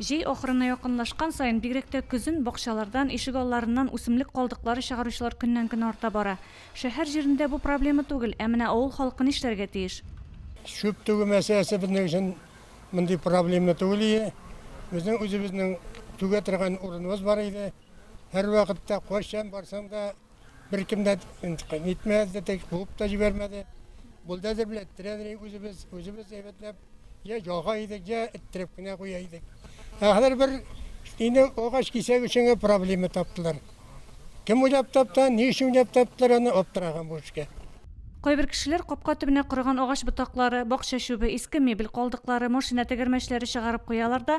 Җәй ахырына якынлашкан саен, бигрәк тә көзен, бакчалардан, ишегалларыннан үсемлек калдыклары чыгаручылар көннән-көн арта бара. Шәһәр җирендә бу проблема түгел, ә менә авыл халкы нишләргә тиеш? Чүп түгү мәсьәләсе безнең өчен мондый проблема түгел иде. Безнең үзебезнең түгә торган урыныбыз бар иде. Һәрвакытта, кайчан барсаң да. Беркем дә нитмәде, тек куып та җибәрмәде. Бульдозер белән тирәнрәк үзебез, үзебез әйбәтләп, я яга идек, я эттереп кенә куя идек. Ә хәзер бер инде агач кисәк өчен генә проблема таптылар. Кем уйлап тапты, ни өчен уйлап таптылар, аны аптыраган бу эшкә. Кайбер кешеләр капка төбенә корыган агач ботаклары, бакча чүбе, иске мебель калдыклары, машина тәгәрмәчләре чыгарып куялар да,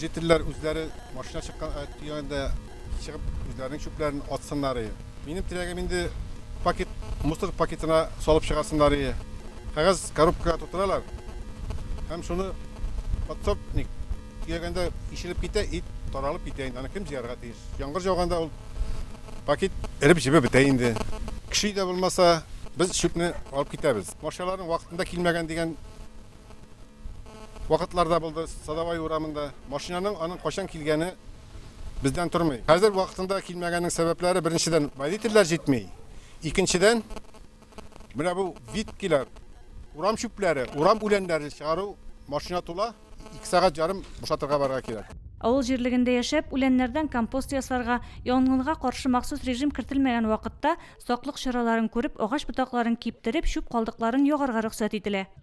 Жительләр үзләре машина чыккан э, төягәндә чыгып үзләренең чүпләрен атсыннар. Минем теләгем инде пакет мусор пакетына салып чыгасыннар. Кәгазь коробкага тутыралар. Һәм шуны подсобник төягәндә ишелеп китә, ит таралып китә инде. Аны кем җыярга тиеш? Яңгыр жауганда ул пакет эреп җибеп бетә инде. Кеше дә булмаса, без чүпне алып китәбез. Машиналарның вакытында килмәгән дигән вакытлар да булды Садовай урамында. Машинаның аның кайчан килгәне бездән тормый. Хәзер вакытында килмәгәнең сәбәпләре беренчедән водительләр җитми. Икенчедән менә бу виткилар, урам чүпләре, урам үләннәре чыгару машина тула, 2 сәгать ярым бушатырга барырга кирәк. Авыл җирлегендә яшәп, үләннәрдән компост ясарга, янгынга каршы махсус режим кертелмәгән вакытта, саклык чараларын күреп, агач ботакларын киптереп, чүп калдыкларын ягарга рөхсәт ителә.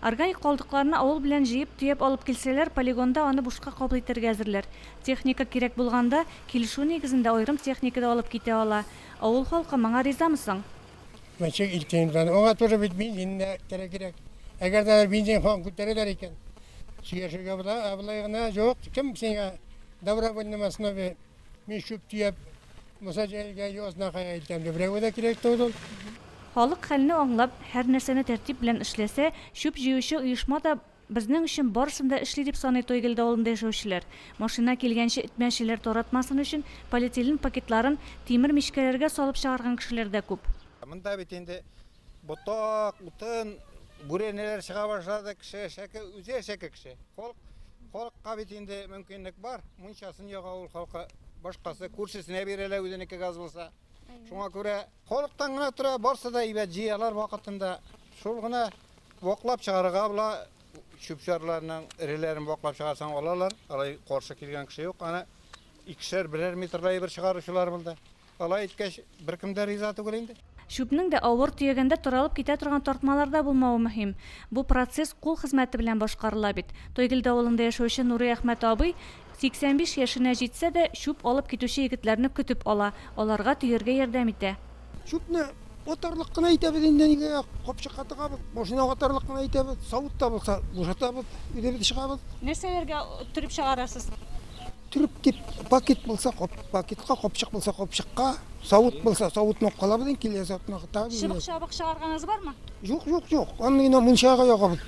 Органик калдыкларны авыл белән җыеп-төяп алып килсәләр, полигонда аны бушка кабул итәргә әзерләр. Техника кирәк булганда, килешү нигезендә аерым техника да алып китә ала. Авыл халкы моңа ризамы соң? Мәче Илкинов. Аңа тоже бит бензин дә кирәкирәк. Әгәр дә бензин һаман күтәрәләр икән, сөйләшергә була. Ә болай гына, юк, кем сиңа добровольном основе Мин чүп төяп, муса җәелгә йозна кая илтәм дип, берәүгә дә кирәк түгел ул. Халык хәлне аңлап, һәр нәрсәне тәртип белән эшләсә, чүп җыючы оешма да безнең өчен барысын да эшли, дип саный Тойгелде авылында яшәүчеләр. Машина килгәнче этмәчеләр таратмасын өчен полиэтилен пакетларын тимер мичкәләргә салып чыгарган кешеләр дә күп. Монда бит инде Ботак, утын, бүрәнәләр чыга башлады, кеше әшәке, үзе әшәке кеше. Халк, халыкка бит инде мөмкинлек бар, мунчасын яга ул халкы, башкасы күршесенә бирәләр үзенеке газ булса. Шуңа күрә халыктан гына тора, барсы да әйбәт җыялар вакытында. Шул гына ваклап чыгарырга була, чүп-чарларның эреләрен ваклап чыгарсаң алалар, алай каршы килгән кеше юк. Аны икешәр, берәр метрда бер чыгаручылар булды. Алай иткәч, беркем дә риза түгел инде. Чүпнең дә авыр төягәндә таралып китә торган тартмалар да булмавы мөһим. Бу процесс кул хезмәте белән башкарыла бит. Тойгелде авылында яшәүче Нурый Әхмәт абый 85 яшенә җитсә дә, чүп алып китүче егетләрне көтеп ала, аларга төяргә ярдәм итә. Чүпне атарлык кына итәбез инде, нигә, капчыкка тыгабыз, машинага атарлык кына итәбез, савыт та булса, бушатабыз, үзебез чыгабыз. Нәрсәләргә төреп чыгарасыз? Төрек дип пакет булса, кап, пакетка, капчык булса, капчыкка, савыт булса, савытны алып калабыз инде, килә савытны кытабыз. Чыбык чабык чыгарганыз бармы? Юк, юк, юк. Аны гына мунчага ягабыз.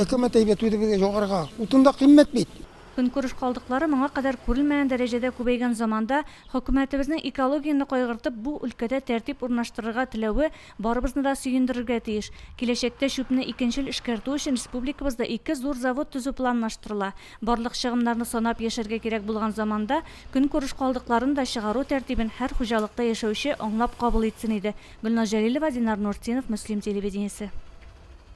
Әкәмәт әйбәт үзе безгә җагарга. Утын да кыйммәт бит. Көнкүреш калдыклары моңа кадәр күрелмәгән дәрәҗәдә күбәйгән заманда хөкүмәтебезнең экологияне кайгыртып бу өлкәдә тәртип урнаштырырга теләве Барыбызны да сөендерергә тиеш. Киләчәктә чүпне икенчел эшкәртү өчен республикабызда ике зур завод төзү планлаштырыла. Барлык чыгымнарны санап яшәргә кирәк булган заманда, көнкүреш калдыкларын да чыгару тәртибен һәр хуҗалыкта яшәүче аңлап кабул итсен иде. Гөлназ Җәлилова, Динар Нуртдинов, Мөслим телевидениесе.